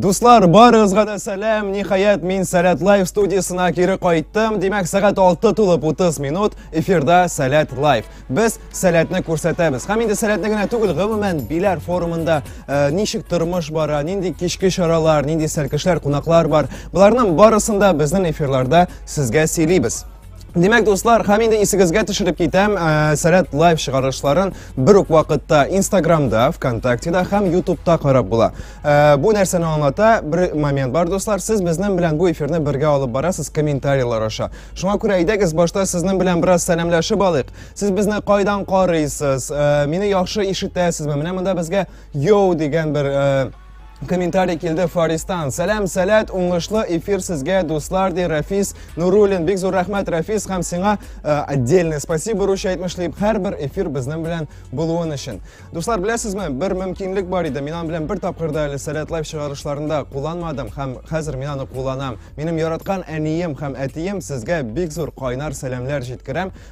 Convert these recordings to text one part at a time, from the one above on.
Дуслар, барыгызга да сәлам. Ниһаять, мин Сәләт Лайф студиясына кире кайттым. Димәк, сәгать 6 тулып 30 минут эфирда Сәләт Лайф. Без Сәләтне күрсәтәбез. Һәм инде Сәләтне генә түгел, гомумән Биләр форумында э, ничек тормыш бара, нинди кичке чаралар, нинди сәркешләр, кунаклар бар. Боларның барысын да безнең эфирларда сезгә сөйлибез. Димәк, дуслар, һәм инде исегезгә төшереп китәм, э, Сәләт лайв чыгарышларын бер үк вакытта Инстаграмда, ВКонтактеда һәм Ютубта карап була. Э, бу нәрсәне аңлата бер момент бар, дуслар. Сез безнең белән бу эфирны бергә алып барасыз комментарийлар аша. Шуңа күрә әйдәгез, башта сезнең белән бераз сәламләшеп алыйк. Сез безне кайдан карыйсыз? Э, мине яхшы ишетәсезме? Менә монда безгә йоу дигән бер комментарий келді фаристан сәләм сәләт уңышлы эфир сізге дуслар ди рәфис нурулин бик зур рәхмәт рәфис һәм сиңа э, отдельное спасибо русча әйтмешлим һәрбір эфир безнең белән булуын өчен дуслар беләсезме бер мөмкинлек бар иде мин белән бер тапкырда әле сәләт лайф чыгарышларында кулланмадым һәм хәзер мин аны кулланам минем яраткан әнием һәм әтием сезгә бик зур кайнар сәламнәр җиткерәм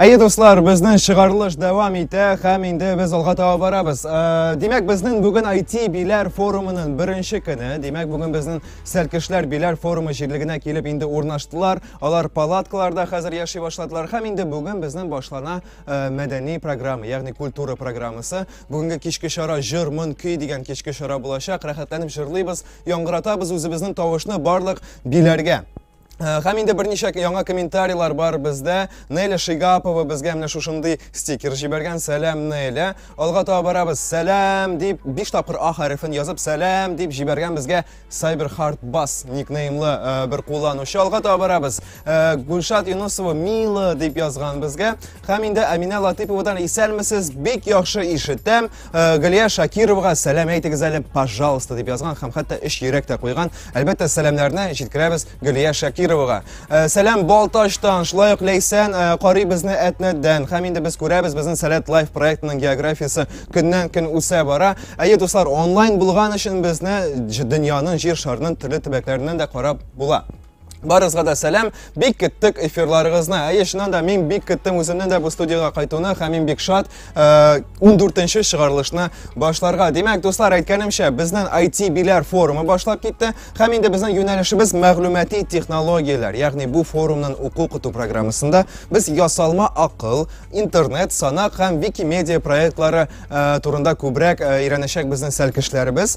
Әйе, дуслар, безнең чыгарылыш дәвам итә һәм инде без алга таба барабыз. Э, димәк, безнең бүген IT биләр форумының беренче көне. Димәк, бүген безнең сәлкешләр биләр форумы җирлегенә килеп инде урнаштылар. Алар палаткаларда хәзер яши башладылар һәм инде бүген безнең башлана э, мәдәни программа, ягъни культура программасы. Бүгенге кичке чара җыр, мон, көй дигән кичке чара булачак. Рәхәтләнеп җырлыйбыз, яңгыратабыз үзебезнең тавышны барлык биләргә. Э, һәм инде берничә яңа комментарийлар бар бездә. Неля Шигапова безгә менә шушындый стикер җибәргән. Сәлам, Неля. Алга таба барабыз. Сәлам дип 5 тапкыр А хәрефен язып, сәлам дип җибәргән безгә Cyber Hard Bass никнеймлы э, бер кулланучы. Алга таба барабыз. Э, Гульшат Юнусова милы дип язган безгә. Һәм инде Әминә Латыповадан исәнмесез, бик яхшы ишетәм. Э, Галия Шакировага сәлам әйтегез әле, пожалуйста, дип язган һәм хәтта өч йөрәк тә куйган. Әлбәттә, сәламнәрне җиткерәбез Галия Шакировага. Э, сәлам Балтачтан, шулай ук Ләйсән э, карый безне Әтнәдән. Һәм инде без күрәбез безнең Сәләт Лайф проектының географиясе көннән көн үсә бара. Әйе, дуслар, онлайн булган өчен безне дөньяның җир шарының төрле төбәкләреннән дә карап була. Барызга да сәлам, бик көттек эфирларыгызны. Әйе, чыннан да мин бик көттем үземнең дә бу студиягә кайтуны һәм мин бик шат 14-нче э, чыгарылышны башларга. Димәк, дуслар, әйткәнемчә, безнең IT биләр форумы башлап китте һәм инде безнең юнәлешебез мәгълүмати технологияләр, ягъни бу форумның уку-куту программасында без ясалма акыл, интернет, санак һәм Викимедиа проектлары э, турында күбрәк э, өйрәнәчәк безнең сәлкешләребез.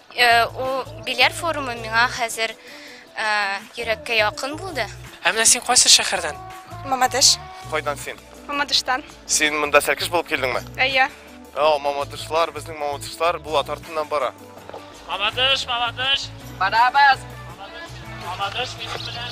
Ул бильярд форумы миңа хәзер йөрәккә якын булды. Ә менә син кайсы шәһәрдән? Мамадыш. Кайдан син? Мамадыштан. Син монда сәлкеш булып килдеңме? Әйе. О, мамадышлар, безнең мамадышлар Булат артыннан бара. Мамадыш, Мамадыш. Барабыз. Мамадыш, Мамадыш минем белән.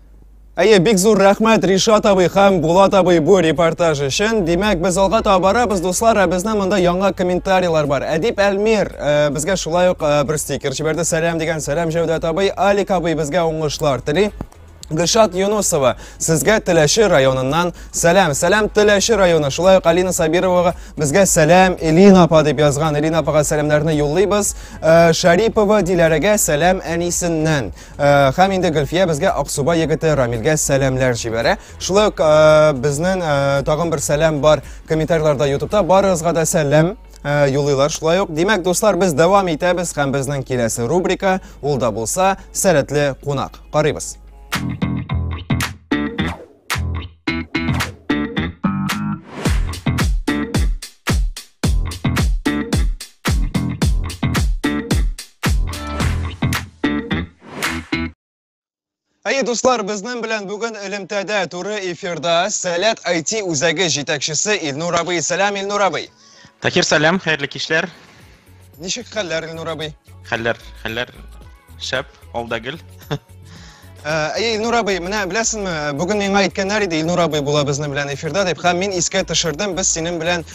Әйе, бик зур рәхмәт Ришат абый һәм Булат абый бу репортаж өчен. Димәк, без алга таба барабыз, дуслар, ә безнең монда яңа комментарийлар бар. Әдип Әлмир э, безгә шулай ук э, бер стикер җибәрде. Сәлам дигән сәлам Җәүдәт абый, Алик абый безгә уңышлар тели. Гөлшат Юнусова, сезгә Теләши районыннан сәлам. Сәлам Теләши районы. Шулай ук Алина Сабировага безгә сәлам Элина апа дип язган. Элина апага сәламнәрне юллыйбыз. Э, Шарипова Диләрәгә сәлам әнисеннән. Э, һәм инде Гөлфия безгә Аксубай егете Рамилгә сәламләр җибәрә. Шулай ук э, безнең э, тагын бер сәлам бар комментарийларда ютубта Барыгызга да сәлам юлыйлар шулай ук. Димәк, дуслар, без дәвам итәбез һәм безнең киләсе рубрика ул да булса сәләтле кунак. Карыйбыз. Әйе, дуслар, безнең белән бүген элемтәдә туры эфирда Сәләт IT үзәге җитәкчесе Илнур абый. Сәлам, Илнур абый. Такир, сәлам, хәерле кичләр. Ничек хәлләр, Илнур абый? Хәлләр, хәлләр шәп, алда гел. Әй, Илнур абый, менә беләсеңме, бүген миңа әйткәннәр иде, Илнур абый була безнең белән эфирда дип, һәм мин искә төшердем, без синең белән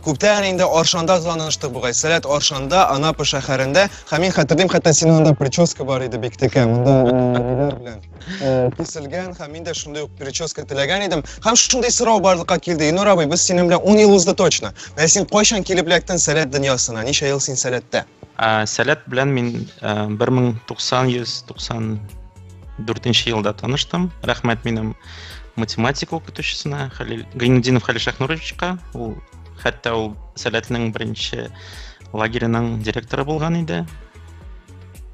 күптән инде Аршанда таныштык бугай. Сәләт Аршанда, Анапа шәһәрендә, һәм мин хәтерлим, хәтта синең анда прическа бар иде бик текә, монда ниләр белән. э, киселгән һәм мин дә шундый ук прическа теләгән идем. Һәм шундый сорау барлыкка килде. Инур абый, без синең белән 10 ел узды точно. Менә син кайчан килеп эләктең сәләт дөньясына? Ничә ел син сәләттә? Ә, Сәләт белән мин ә, 1994 елда таныштым. Рәхмәт минем математика укытучысына Хәлил Гайнудинов Хәлил Шәхнуровичка. Ул хәтта ул Сәләтнең беренче лагерының директоры булган иде.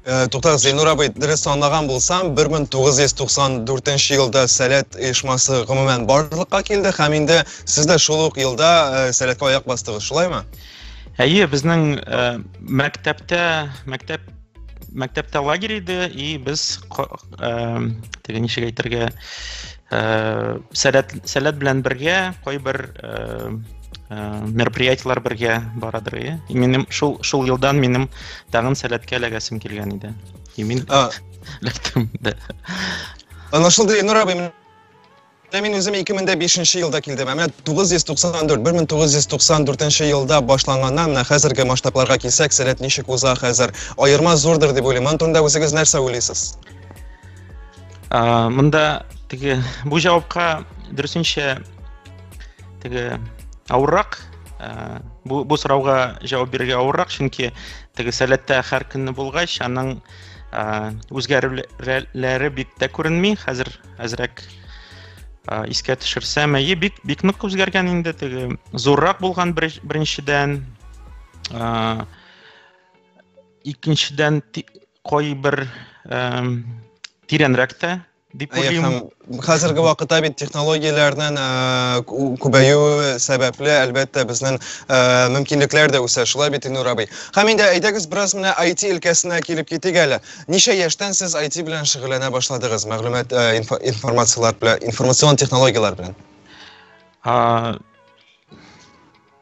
Э, туктагыз зиннур абый дөрес санлаган булсам 1994 елда сәләт оешмасы гомумән барлыкка килде һәм инде сез дә шул ук елда э, сәләткә аяк бастыгыз шулаймы әйе безнең э, мәктәптә мәктәп мәктәптә лагерь иде и без теге ничек әйтергә Э, сәләт сәләт белән бергә кайбер э, э, мероприятиеләр бергә барадыр иә минем шул шул елдан минем тагын сәләткә эләгәсем килгән иде и мин эләктем да аңлашылды ильнур абый мин үзем 2005 елда килдем ә менә 994 1994 елда башланганнан менә хәзерге масштабларга килсәк сәләт ничек уза хәзер аерма зурдыр дип уйлыйм аны турында үзегез нәрсә уйлыйсыз ә, мында теге бу җавапка дөресенчә теге авыррак ә, бу, бу сорауга җавап бирергә авыррак чөнки теге сәләттә һәр көнне булгач аның ә, үзгәрүләре бик тә күренми хәзер әзрәк ә, искә төшерсәм әйе бик бик нык үзгәргән инде теге зуррак булган беренчедән ә, икенчедән кайбер тирәнрәк тә дип уйлыйм. Хәзерге вакытта бит технологияләрнең күбәюе сәбәпле, әлбәттә, безнең мөмкинлекләр дә үсә. Шулай бит, Илнур абый? Һәм инде әйдәгез, бераз менә IT өлкәсенә килеп китик әле. Ничә яшьтән сез IT белән шөгыльләнә башладыгыз? Мәгълүмат, информацияләр белән, информацион технологияләр белән.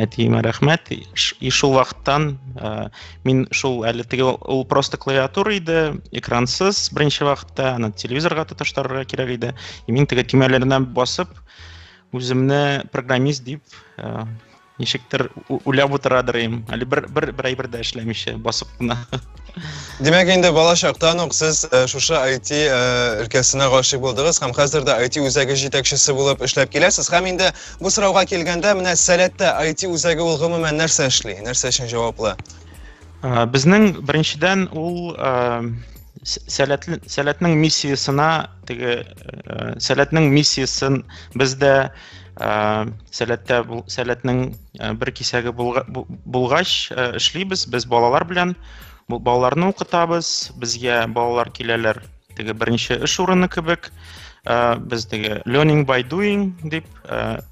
әтиемә рәхмәт и шул вакыттан ә, мин шул әле теге ул просто клавиатура иде экрансыз беренче вакытта аны телевизорга тоташтырырга кирәк иде и мин теге төймәләренә басып үземне программист дип ә, ничектер үләп утырадыр әле бер бер бер әйбер дә эшләмичә басып кына Димәк, инде бала чактан ук сез э, шушы IT э, өлкәсенә гашыйк булдыгыз һәм хәзер дә IT үзәге җитәкчесе булып эшләп киләсез. Һәм инде бу сорауга килгәндә, менә Сәләттә IT үзәге ул гомумән нәрсә эшли? Нәрсә өчен җаваплы? Э, безнең беренчедән ул сәләтле сәләтнең миссиясенә теге э, сәләтнең миссиясен без дә э, сәләттә сәләтнең э, бер кисәге булгач эшлибез без балалар белән балаларны укытабыз безгә балалар киләләр теге беренче эш урыны кебек без теге learning by doing дип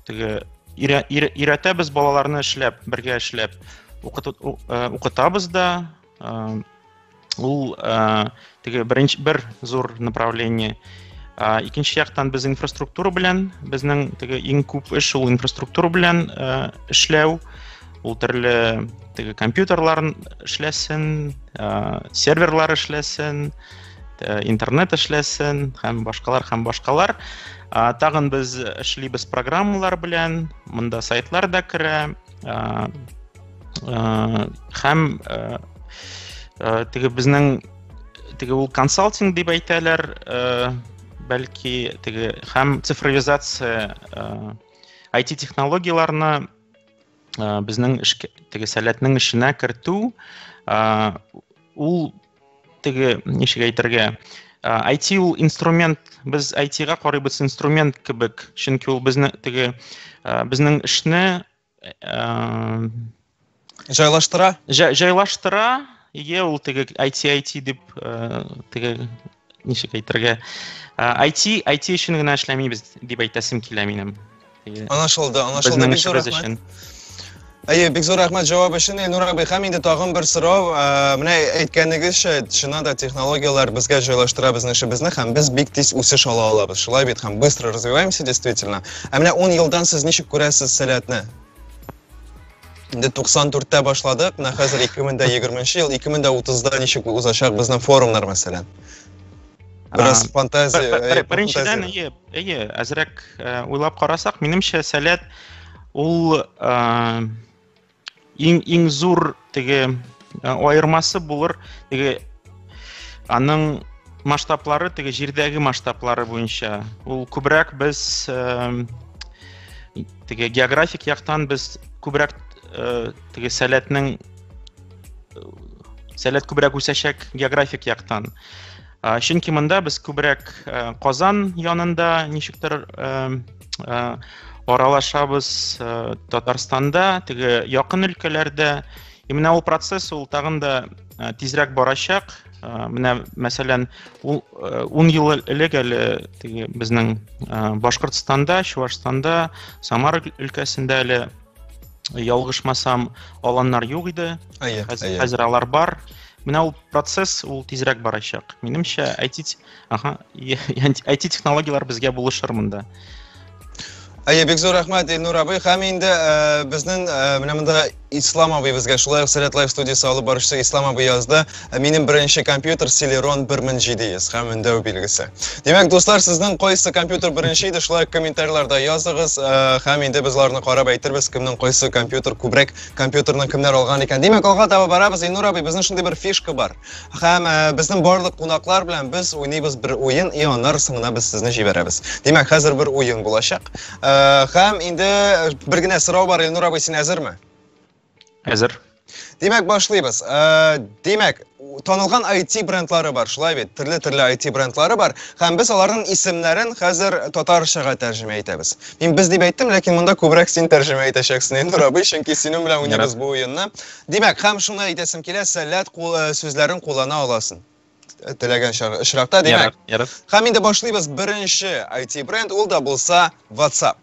теге өйрәтәбез балаларны эшләп бергә эшләп укытабыз да ул теге беренче бер зур направление икенче яктан без инфраструктура белән безнең теге иң күп эш ул инфраструктура белән эшләү ул төрле теге компьютерлар эшләсен серверлар эшләсен интернет эшләсен һәм башкалар һәм башкалар тагын без эшлибез программалар белән монда сайтлар да керә ә, һәм ә, ә, теге безнең теге ул консалтинг дип әйтәләр ә, бәлки теге һәм цифровизация ә, IT технологияләрне ә, безнең эшкә теге сәләтнең эшенә кертү ә, ул теге ничек әйтергә IT ул инструмент без IT-га карыйбыз инструмент кебек чөнки ул безне теге безнең эшне Җайлаштыра? Җайлаштыра. Ие, ул теге IT-IT дип теге ничек әйтергә? IT, IT өчен генә эшләмибез дип әйтәсем килә минем. Анашылды, анашылды. Безнең эшебез өчен. Әйе, бик зур рәхмәт җавап өчен. Илнур абый, һәм инде тагын бер сорау. Менә әйткәнегезчә, чыннан да технологияләр безгә җайлаштыра безнең эшебезне һәм без бик тиз үсеш ала алабыз. Шулай бит һәм быстро развиваемся действительно. Ә менә ун елдан сез ничек күрәсез сәләтне? Инде 94-тә башладык, менә хәзер 2020 ел, 2030-да ничек узачак безнең форумнар мәсәлән? Бераз фантазия, э, Беренчедән, әйе, әйе, әзрәк э, уйлап карасак, минемчә, сәләт ул э, иң иң зур теге аермасы булыр теге аның масштаблары теге җирдәге масштаблары буенча ул күбрәк без теге географик яктан без күбрәк теге сәләтнең сәләт күбрәк үсәчәк географик яктан Ә, чөнки монда без күбрәк ә, Казан янында ничектер ә, ә, аралашабыз ә, Татарстанда, теге якын өлкәләрдә. И менә ул процесс ул тагын да ә, тизрәк барачак. Ә, менә мәсәлән, ул 10 ел элек әле теге безнең ә, Башкортстанда, Чувашстанда, Самара өлкәсендә әле ялгышмасам аланнар юк иде әйе хәзер алар бар менә ул процесс ул тизрәк барачак минемчә айти ага айти технологиялар безгә булышыр монда әйе бик зур рәхмәт илнур абый һәм инде безнең менә монда ислам абый безгә шулай ук сәләт лайф студиясе алып баручысы ислам абый язды Ә минем беренче компьютер Celeron 1700 һәм өндәү билгесе. Димәк, дуслар, сезнең кайсы компьютер беренче иде, шулай комментарийларда языгыз, э, һәм инде без аларны карап әйтербез, кемнең кайсы компьютер күбрәк компьютерны кемнәр алган икән. Димәк, алга таба барабыз. Инур абый, безнең шундый бер фишка бар. Һәм э, безнең барлык кунаклар белән без уйныйбыз бер уен, и аннары соңына без сезне җибәрәбез. Димәк, хәзер бер уен булачак. Э, һәм инде бер генә сорау бар, Инур абый, син әзерме? Әзер. Димәк, башлыйбыз. Э, димәк, танылган IT брендлары бар, шулай бит? Төрле-төрле IT брендлары бар, һәм без аларның исемнәрен хәзер татарчага тәрҗемә итәбез. Мин без дип әйттем, ләкин монда күбрәк син тәрҗемә итәчәксең, Эндур абый, чөнки синең белән уйнарбыз бу уенны. Димәк, һәм шуны әйтәсем килә, сәләт э, сүзләрен куллана аласың э, теләгән очракта, димәк. Һәм инде башлыйбыз беренче IT бренд, ул да булса WhatsApp.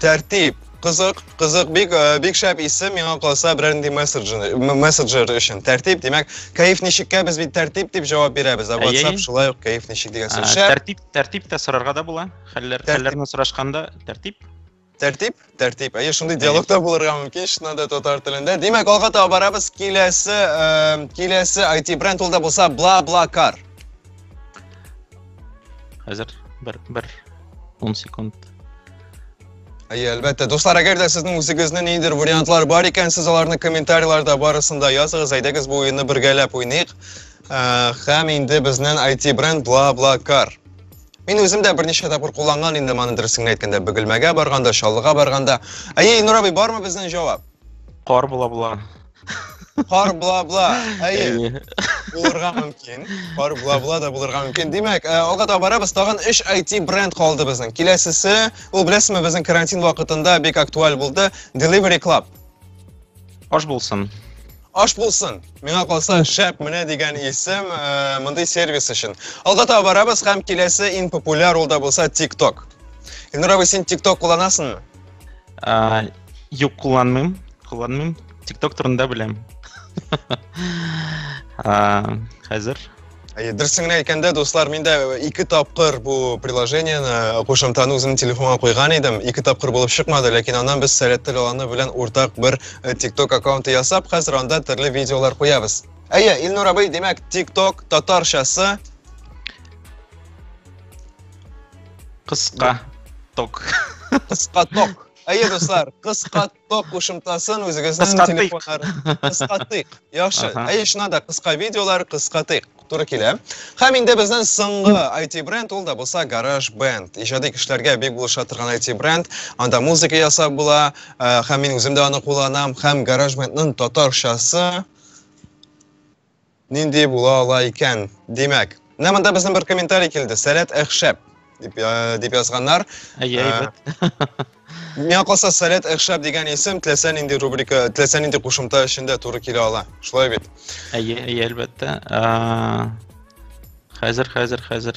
Тәртип. Кызык, кызык, бик, э, бик шәп исем, миңа калса берәр нинди мессенджер, м- мессенджер өчен. Тәртип, димәк, кәеф ничеккә без бит тәртип дип җавап бирәбез, ә Әйе. WhatsApp шулай ук кәеф ничек дигән Ә, сүз. Шәп, Тәртип, тәртип тә сорарга да була. Хәлләр, Тәртип. хәлләрне сорашканда тәртип. тәртип, тәртип. Әйе, шундый диалогта булырга мөмкин, чыннан да татар телендә. Димәк, алга таба барабыз. Киләсе, э, киләсе IT бренд ул да булса бла бла кар. Хәзер бер, бер 10 секунд. Әйе, әлбәттә. Дуслар, әгәр дә сезнең үзегезнең ниндидер вариантлар бар икән, сез аларны комментарийларда барысында языгыз, әйдәгез бу уенны бергәләп уйныйк. Ә, Һәм инде безнен IT-бренд Бла-Бла-Кар. Мин үзем дә берничә тапкыр кулланган инде моны дөресен әйткәндә, Бөгелмәгә барганда, Чаллыга барганда. Әйе, Илнур абый, бармы безнең җавап? Кар була була. Кар бла-бла. Әйе. Әйе. Булырга мөмкин. Кар бла-бла да булырга мөмкин. Димәк, э, алга таба барабыз. Тагын 3 IT бренд калды безнең. Киләсесе, ул беләсезме, безнең карантин вакытында бик актуаль булды. Delivery Club. Аш булсын. Аш булсын. Миңа калса шәп менә дигән исем э, мондый сервис өчен. Алга таба барабыз һәм киләсе иң популяр ул да булса TikTok. Ильнур абый, син TikTok кулланасыңмы? Юк, кулланмыйм, кулланмыйм. Тикток турында беләм. Хәзер. Дөресен генә әйткәндә, дуслар, мин дә ике тапкыр бу приложениене кушымтаны үземнең телефонга куйган идем. Ике тапкыр булып чыкмады, ләкин аннан без Сәләттел Аланы белән уртак бер тикток э, аккаунты ясап, хәзер анда төрле видеолар куябыз. Әйе, Илнур абый, димәк, тикток татарчасы Кыска ток. Кыска ток. Әйе, дуслар, кыска ток кушымтасын үзегезнең телефоннар кыскатыйк. Яхшы. Әйе, шуна да кыска видеолар кыскатыйк. Туры килә. Һәм инде безнең соңгы IT бренд ул да булса Garage Band. Иҗади кешеләргә бик булыша торган IT бренд. Анда музыка ясап була, һәм мин үзем дә аны кулланам, һәм Garage Band-ның татарчасы Нинди була ала икән? Димәк, менә монда безнең бер комментарий килде. Сәләт әхшәп дип э, дип язганнар. Әйе, Ә, әйбәт. Миңа калса Сәләт әхшәп дигән исем теләсә нинди рубрика, теләсә нинди кушымта эчендә туры килә ала. Шулай бит. Әйе, әйе, әлбәттә. А, Хәзер, хәзер, хәзер.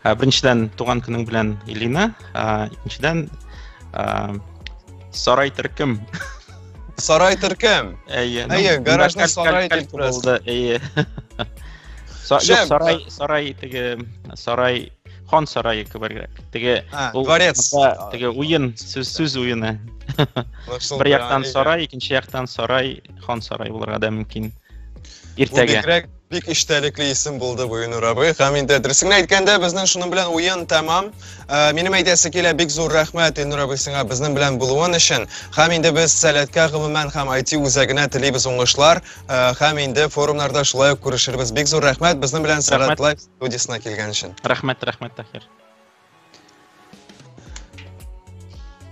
Ә, беренчедән, туган көнең белән, Илина. Ә, икенчедән, ә, сарай төркем. Сарай төркем? Әйе. Ну, Әйе, гаражны сарай дип бераз. Әйе. Са, Шем, юк, сарай, а... сарай, теге, сарай, хан сарайы кебергрәк. Теге, а, ул, дворец. Монда, теге, уен, сүз, сүз уены. Бер яктан сарай, икенче яктан сарай, хан сарай булырга да мөмкин. Иртәгә. Бик эчтәлекле исем булды бу Юнур абый. Һәм инде дөресен генә әйткәндә, безнең шуның белән уен тәмам. Ә, Минем әйтәсе килә, бик зур рәхмәт Юнур абый сиңа безнең белән булуын өчен. Һәм инде без Сәләткә гомумән һәм IT үзәгенә телибез уңышлар. Ә, Һәм инде форумнарда шулай ук күрешербез. Бик зур рәхмәт безнең белән Сәләт Рәхмәт. Лайф студиясенә килгән өчен. Рәхмәт, рәхмәт, Таһир.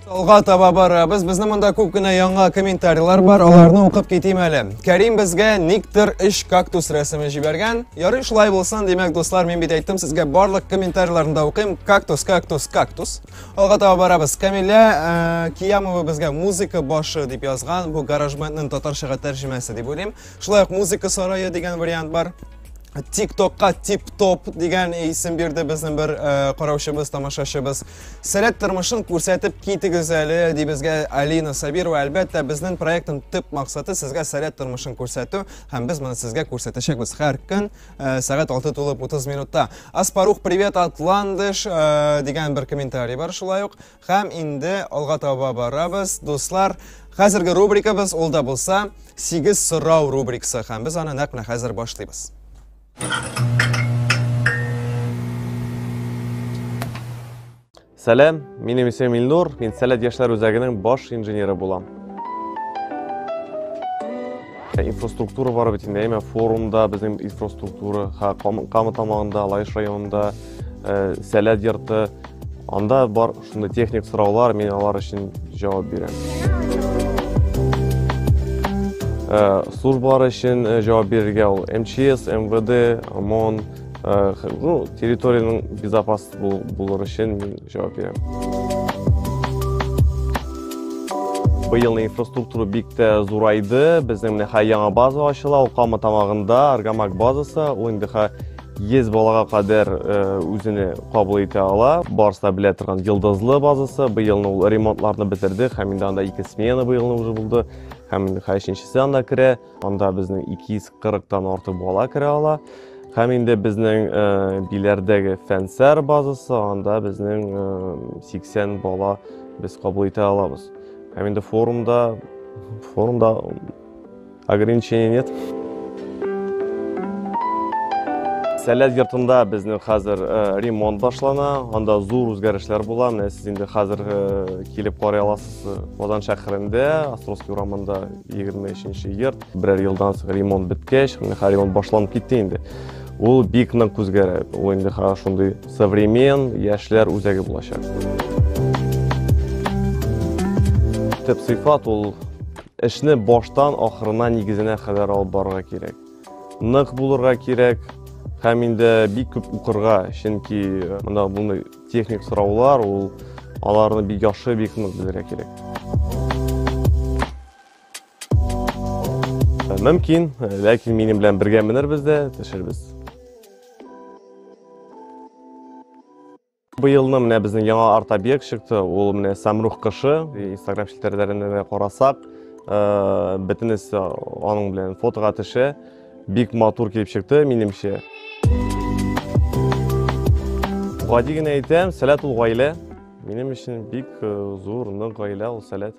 Алга таба барабыз. Безнең монда күп кенә яңа комментарийлар бар. Аларны укып китим әле. Кәрим безгә никтер эш кактус рәсеме җибәргән. Ярый шулай булсын, димәк, дуслар, мин бит әйттем сезгә барлык комментарийларны да укыйм. Кактус, кактус, кактус. Алга таба барабыз. Камилә э, Киямова безгә музыка башы дип язган. Бу гаражбендның татарчага тәрҗемәсе дип уйлыйм. Шулай ук музыка сарае дигән вариант бар. TikTokka Tip Top дигән исем бирде безнең бер э, караучыбыз, тамашачыбыз. Сәләт тормышын күрсәтеп китегез әле, ди безгә Алина Сабирова. Әлбәттә, безнең проектның төп максаты сезгә сәләт тормышын күрсәтү, һәм без моны сезгә күрсәтәчәкбез һәр көн э, сәгать 6 тулып 30 минутта. Аспарух, привет, Атландыш э, дигән бер комментарий бар шулай ук. Һәм инде алга таба барабыз, дуслар. Хәзерге рубрикабыз ул да булса, 8 сорау рубрикасы һәм без аны нәкъ менә хәзер башлыйбыз. Сәлам, минем исем Илнур, мин Сәләт яшьләр үзәгенең баш инженеры булам. Ә инфраструктура бары бит инде, әмма форумда безнең инфраструктура, ха, Камы тамагында, Лаеш районында э, сәләт йорты. Анда бар шундый техник сораулар, мин алар өчен җавап бирәм. Э, службалар өчен э, җавап бирергә ул МЧС, МВД, ОМОН, ну, территориянең безопас булыр өчен мин җавап бирәм. Быелның инфраструктура бик тә зурайды. Безнең менә яңа база ачыла, ул Кама тамагында, Аргамак базасы, ул инде 100 балага кадәр э, үзене кабул итә ала. Барыста белә торган йылдызлы базасы. Быелны ул ремонтларны бетерде. Һәм инде анда ике смена быелны уже булды. Һәм инде хәшенчесе анда керә. Анда безнең 240 тан артык бала керә ала. Һәм инде безнең э, биләрдәге фәнсәр базасы, анда безнең 80 э, бала без кабул итә алабыз. Һәм инде форумда форумда Ограничения нет. Сәләт йортында безнең хәзер э, ремонт башлана, анда зур үзгәрешләр була. Менә сез инде хәзер э, килеп карый аласыз. Э, Казан шәһәрендә, Островский урамында 23-нче йорт. Берәр елдан соң ремонт беткәч, менә хәзер ремонт башланып китте инде. Ул бик нык үзгәрә. Ул инде хәзер шундый современ яшьләр үзәге булачак. Төп сыйфат ул Эшне баштан ахырына нигезенә кадәр алып барырга кирәк. Нык булырга кирәк һәм инде бик күп укырга, чөнки э, монда мондый техник сораулар, ул аларны бик яхшы, бик нык белергә кирәк. Э, мөмкин, э, ләкин минем белән бергә менербез дә, төшербез. Быелны менә безнең яңа арт-объект чыкты, ул менә Самрух кышы. Инстаграм челтәрләренә дә карасак, э, бөтенесе аның белән фотога төшә. Бик матур килеп чыкты, минемчә. Гади генә әйтәм, сәләт ул гаилә. Минем өчен бик э, зур, нык гаилә ул сәләт.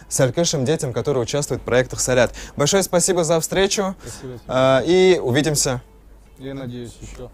Салют нашим детям, которые участвуют в проектах Салят. Большое спасибо за встречу. Спасибо. А, и увидимся. Я надеюсь, еще.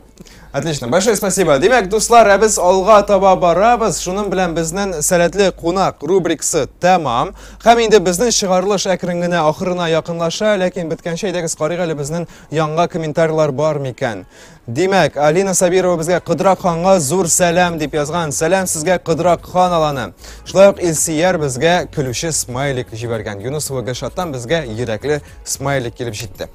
Отлично. Большое спасибо. Демек, дуслар, ә без алга таба барабыз. Шуның белән безнең сәләтле кунак рубрикасы тәмам. Һәм инде безнең чыгарылыш әкрен генә ахырына якынлаша, ләкин беткәнче әйдәгез карыйк әле безнең янга комментарийлар бар микән. Димәк, Алина Сабирова безгә Кыдрак ханга зур сәлам дип язган. Сәлам сезгә Кыдрак хан аланы. Шулай ук Илсияр безгә көлүче смайлик җибәргән. Юнус Вагашаттан безгә йөрәкле смайлик килеп җитте.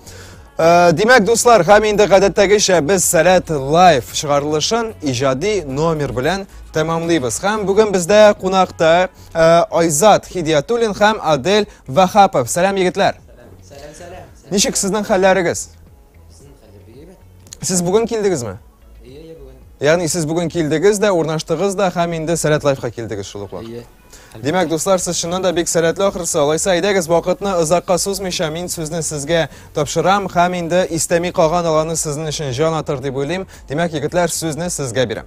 Э, димәк, дуслар, һәм инде гадәттәгечә без Сәләт лайф чыгарылышын иҗади номер белән тәмамлыйбыз. Һәм бүген бездә кунакта э, Айзат Хидиятуллин һәм Адель Вахапов. Сәлам, егетләр. Сәлам, сәлам. Ничек сезнең хәлләрегез? Сез бүген килдегезме? Ие, ие, бүген. Ягъни сез бүген килдегез дә, урнаштыгыз да һәм инде Сәләт лайфка килдегез шул ук Ие. Димәк, дуслар, сез чыннан да бик сәләтле ахрысы. Алайса, әйдәгез, вакытны озакка сузмыйча, мин сүзне сезгә тапшырам һәм инде истәми калган аланы сезнең өчен җан атыр дип уйлыйм. Димәк, егетләр, сүзне сезгә бирәм.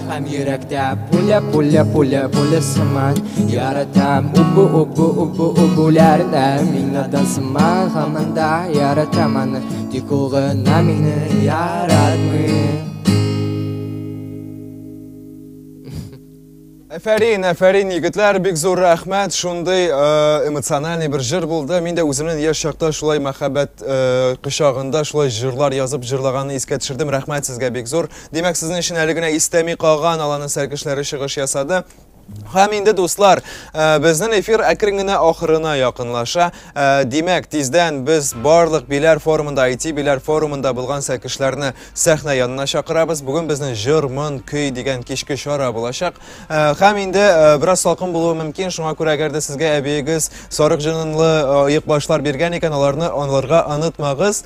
Һәм йөрәктә пуля, пуля, пуля, пуля сыман Яратам убу, убу, убу, убуләрдә Мин надан сыман хаманда яратам аны Тик ул гына мине яратмый Әфәрин, әфәрин, егетләр, бик зур рәхмәт. Шундый э, эмоциональный бер җыр булды. Мин дә үземнең яшь чакта шулай мәхәббәт э, кочагында шулай җырлар язып җырлаганны искә төшердем. Рәхмәт сезгә бик зур. Димәк, сезнең өчен әле генә истәми калган аланы сәркешләре чыгыш ясады. Һәм инде дуслар, э, безнең эфир әкрен генә ахырына якынлаша. Э, димәк, тиздән без барлык биләр форумында, IT биләр форумында булган сәкешләрне сәхнә янына чакырабыз. Бүген безнең җыр, мон, көй дигән кичке чара булачак. Э, һәм инде бераз салкын булуы мөмкин, шуңа күрә әгәр дә сезгә әбиегез сарык җынынлы оек башлар биргән икән, аларны анларга онытмагыз.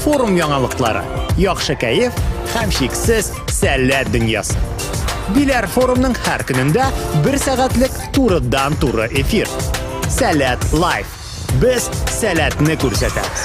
Форум яңалыклары, яхшы кәеф һәм шиксез сәләт дөньясы. Биләр форумның һәр көнендә бер сәгатьлек турыдан туры эфир. Сәләт лайф. Без сәләтне күрсәтәбез.